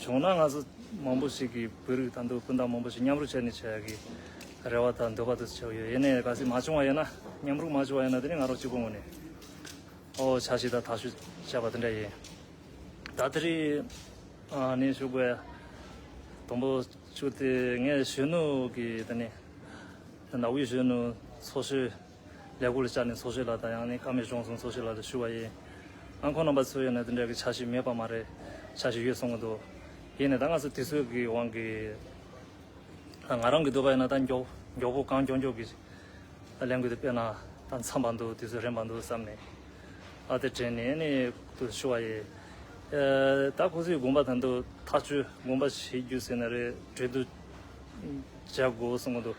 བྱུང་ན་ང་ཚོ་མང་པོ་ཞིག་གིས་བོད་རིགས་དང་དུ་སྤུན་ཟླ་མང་པོ་ཞིག་མཉམ་རུབ་བྱས་ནས་བྱས་ཡག་གི་རེ་བ་དང་འདོད་པ་དུ་བྱེད་ཡོད་ཡེ་ནས་ག་སྲིད་མ་བྱུང་བ་ཡིན་ན་མཉམ་རུབ་མ་བྱུང་བ་ཡིན་ན་དེ་ནི་ང་རང་གཅིག་པུ་ངོས་ནས་ཨོ་བྱ་ཞིག་དང་ད་ཞུ་བྱས་པ་དེ་འདྲ་ཡིན། ད་དེ་རིང་ནས་ཞུགས་པའི་དང་པོ་ཆུ་དེ་ངས་གཞོན་ནུ་གི་དེ་ནི་ནག་དབུས་གཞོན་ནུ་ཚོ་ཞུ། ལས་སྒོ་ལ་བཅར་ནས་འཚོ་བྱེད་ལ་དང་ཡང་ནི་ཁ་མེད་གཞུང་བཟུང་འཚོ་བྱེད་ལ་ལ་ཞུ་བ་ཡིན། ཨང་ཁོ་རྣམ་པ་ཚོའི་ཡོད་ན་དེ་འདྲ་གི་ཆ་ཞིག་མེད་པ་མ་རེད། ཆ་ཞིག་ཡོད་གསུང་གི་འདུག་ཡིན་ནས་ད་སྔ་སུ་དུས་ཚོད་ཀྱི་དབང་གིས། ང་རང་གི་འདོད་པ་ཡིན་ན་ད་མགྱོགས་པོ་གང་མགྱོགས་མགྱོགས་ཀྱིས་ལས་འགུལ་དེ་སྤེལ་ན་ད་འཚམས་པ་འདུག་དུས་ཚོད་རན་པ་འདུག་བསམ་ནས་ཨ་དེ་དྲན་ནས་ནི་དུ་ཞུ་བ་ཡིན། ད་ཁོ་ཚོའི་དགོངས་པ་དང་དུ་ཐག་གཅོད་དགོངས་པ་བྱེད་རྒྱུ་ཟེར་ན་རེ་བྲོས་དུ་བྱ་དགོས་གསུང་གི་འདུག་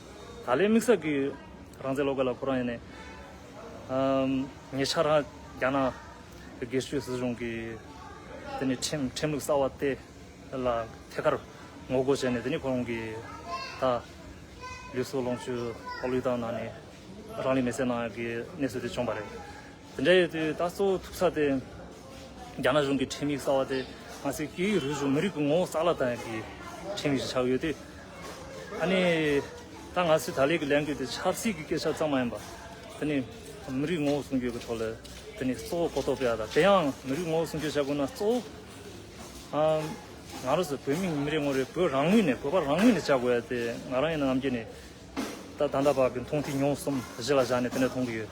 ད་ལའི་དམིགས་བསལ་གྱིས་རང་བཙན་སློབ་སྐལ་ལ་ཁོ་རང་ཡིན་ནས། ཉེ་ཆར་རང་རྒྱ་ནག་གི་སྒེར་གཅོད་སྲིད་གཞུང་གིས་དེ་ནི་ཁྲིམས་ལུགས་གསར་བ་སྟེ། ལ་ཐད་ཀར་ངོ་རྒོལ་བྱས་ནས་དེ་ནི་ཁོ་རང་གི་ད་ལུས་སྲོག་ལོངས་སྤྱོད་ལྷག་ལུས་དང་ནང་ནས་རང་ལུས་མེ་བསྲེགས་གནང་ཡག་གི་གནས་ཚུལ་དེ་བྱུང་བ་རེད། དེ་འདྲ་ཡོད་དུས་ད་གཙོ་བོ་ཐུབ་ས་དེ་རྒྱ་ནག་གཞུང་གི་ཁྲིམས་ཡིག་གསར་བ་དེ་ང་ཚོའི་སྐད་ཡིག་རིག་གཞུང་མི་རིགས་ཀྱི་ངོ་བོ་གསར་ལ་ལྟ་མཁན་གྱི་ཁྲིམས་ཡིག་ཅིག་ཆགས་ཡོད་དུས། ཨ་ནི་ད་ང་ཚོས་ད་ལས་ཀྱི་ལས་འགུལ་དེ་ཆབ་སྲིད་ཀྱི་སྐད་ཆ་ཙམ་མ་ཡིན་པར། དེ་ནི་མི་རིགས་ངོ་བོ་སྲུང་སྐྱོབ་ཀྱི་ཐོག་ལ་དེ་ནི་གཙོ་བོ་གོ་རྟོགས་སྤེལ་བ་དང་དེ་ཡང་མི་རིགས་ངོ་བོ་སྲུང་སྐྱོབ་བྱ་དགོས་ན་གཙོ་བོ་ང་རང་ཚོ་བོད་མི་མི་རེ་ངོ་རེས་བོད་རང་ངོས་ནས་བོད་པ་རང་ངོས་ནས་བྱ་དགོས་ཡ་དེ་ང་རང་ཡིན་ན་ནམ་རྒྱུན་ནས་ད་ད་ལྟ་བར་གྱི་མཐོང་ཐོས་མྱོང་གསུམ་གཞི་ལ་བཞག་ནས་དེ་འདྲ་མཐོང་གི་ཡོད།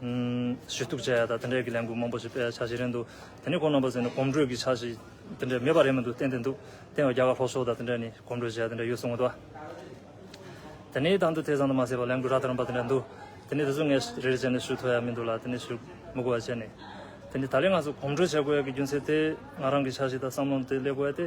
ཞུ་གཏུག་བྱས་ཡ་དང་དེ་འད་ཀྱི་ལས་འགུལ་མང་པོ་ཞིག་སྤེལ་ཡ་ཆ་ཞིག་རེད་འདུག་དེ་ནི་གོང་ནང་པ་ཟེར་ནི་གོམ་བགྲོད་ཀྱི་ཆ་ཞིག་དེ་འད་མེད་པ་རེད་མི་འདུག་བསྟན་དེ་འདུག་བསྟན་བ་རྒྱ་གར་ལྷོ་ཕྱོགས་དང་དེ་འད་ནི་གོམ་བགྲོད་བྱས་ཡ་དེ་འད་ཡོད་གསུང་འདུག་དེ་ནི་དང་དུ་དེ་ཙམ་དུ་མ་ཟད་པ་ལས་འགུལ་རག་ཐར་འབའ་དེ་འད་འདུག་དེ་ནི་དེ་ཚོ་ངས་རེད་བྱས་ནི་ཞུ་ཐུབ་ཡ་མི་འདུག་ལ་དེ་ནི་ཞུ་མི་དགོས་བ་བྱས་ནི་དེ་ནི་ད་ལི་ང་ཚོ་གོམ་བགྲོད་བྱས་དགོས་ཡ་གི་རྒྱུ་མཚན་དེ་ང་རང་གི་ཆ་ཞིག་དང་བསམ་བློ་དེ་སླེབས་དགོས་ཡ་སྟེ།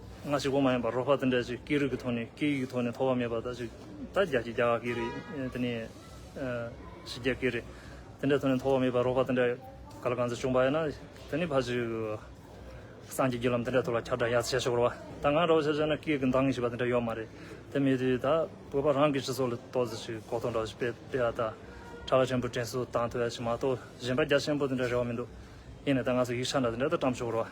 སྔ་ཕྱི་གོང་མ་ཡིན་པར་རོགས་ཕ་དང་འདྲ་ཞིག་སྐད་རིགས་ཀྱི་ཐོག་ནས་སྐད་ཡིག་གི་ཐོག་ནས་ཐོ་བ་མེད་པ་དག་ཅིག་ད་རྒྱ་ཁྱི་རྒྱ་ག་སྐད་རིགས་དེ་ནས་ཞི་རྒྱ་སྐད་རིགས་དེ་འདྲ་ཐོག་ནས་ཐོ་བ་མེད་པར་རོགས་ཕ་དང་འདྲ་ག་ལ་གང་ཚེ་བྱུང་བ་ཡིན་ན་དེ་ནས་ཕ་ཅིག་སངས་རྒྱས་བརྒྱུད་ལམ་དེ་འདྲ་ཐོག་ལ་ཁྱབ་བསྒྲགས་ཡག་ཆེ་ཤོར་བ་ད་ང་རོགས་ཕྱི་ཕྱིར་ན་སྐད་ཀྱི་འདང་ངེས་ཞེས་པ་དེ་འདྲ་ཡོད་མ་རེད་དེ་མེད་དུས་ད་བོད་པ་རང་གི་སྤྱི་ཚོགས་ལ་གཏོགས་ཚེ་ཞིག་གོ་ཐོ་འདྲ་བོ་ཞིག་སྤེལ་སྤེལ་བ་ད་གྲྭ་བ་ཆེན་པོ་དྲན་གསོ་དང་ཐོས་ཞིག་མ་གཏོགས་གཞན་པ་རྒྱ་ཆེན་པོ་དེ་འདྲ་རེ་བ་མི་འདུག་ཡིན་ནས་ད་ང་ཚོ་ཡིག་ཆ་འདྲ་དེ་འདྲ་ད་བཀྲམ་ཆོག་རོགས།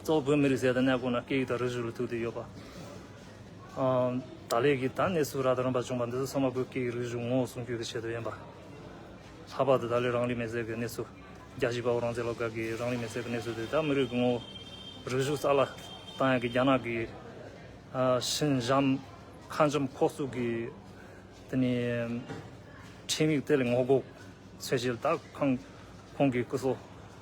གཙོ་བོ་བོད་མི་རིགས་ཟས་དང་གནས་སྐོར་ལ་སྐད་ཡིག་དང་རིགས་རུས་ལ་ཐུག་འདོད་ཡོད་པ། ད་ལས་ཀྱི་ད་གནས་སུ་ར་ད་རམ་པ་བྱུང་བ་འདི་ཚོ་ཚང་མ་བོད་སྐད་ཡིག་རིགས་རུས་ངོ་བོ་སྲུང་སྐྱོབ་ཀྱི་ཆེད་དུ་ཡིན་པ། ལྷག་པར་དུ་ད་ལས་རང་རིགས་མེ་བསྲེགས་ཀྱི་གནས་ཚུལ། རྒྱལ་སྤྱིའི་དཔའ་བོ་རང་བཙན་སློབ་གྲྭ་གིས་རང་རིགས་མེ་བསྲེགས་ཀྱི་གནས་ཚུལ་འདི་ད་མི་རིགས་ཀྱི་ངོ་བོ་རིགས་རུས་གསར་ལ་བཏང་ཡང་གི་རྒྱ་ནག་གི་ཤིན་ཇམ་ཁ་འཇམ་ཁོག་སུག་གི་དེ་ནི་ཁྲིམས་ཡིག་དེ་ལས་ངོ་རྒོག་ཚོད་བྱེད་ད་ཁང་ཁོང་གི་སྐུ་སྲོག།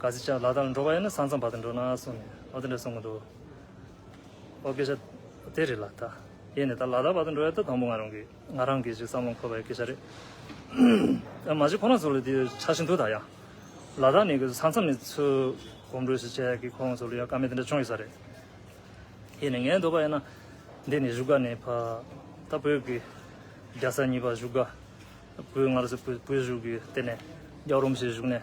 ག་ཟེ་ཅག་ལ་དྭགས་ལ་འགྲོ་བ་ཡིན་ན་ས་མཚམས་བར་དུ་འགྲོ་ན་གསུངས་ནས་ཨོ་དེ་འདྲ་གསུང་གི་འདུག་ཨོ་སྐད་ཆ་དེ་རེད་ལགས་ད་ཡེ་ནས་ད་ལ་དྭགས་བར་དུ་འགྲོ་ཡག་ད་དང་པོ་ང་རང་གི་ང་རང་གིས་ཅིག་བསམ་བློ་འཁོར་བའི་སྐད་ཆ་རེད་ཨ་མ་ཅིག་ཁོ་ན་ཚོ་ལ་དེ་ཆགས་ཤིང་འདུག་ད་ཡང་ལ་དྭགས་ནས་གི་ས་མཚམས་ནས་ཚུ་གོམ་འགྲོས་ཤིག་བྱས་ཀི་ཁོ་ང་ཚོ་ལ་ཡང་དཀའ་མེད་དེ་འདྲ་བྱུང་ཡོད་ས་རེད། ཡེ་ནས་ངའི་འདོད་པ་ཡིན་ན་འདི་ནས་བཞུགས་སྒར་ནས་ཕ་ད་བོད་ཀྱི་རྒྱལ་ས་གཉིས་པ་བཞུགས་སྒར་བོད་སྔར་སྲིད་བོད་བཞུགས་གི་དེ་ནས་རྒྱ་རོམ་ཞིག་བཞུགས་ནས།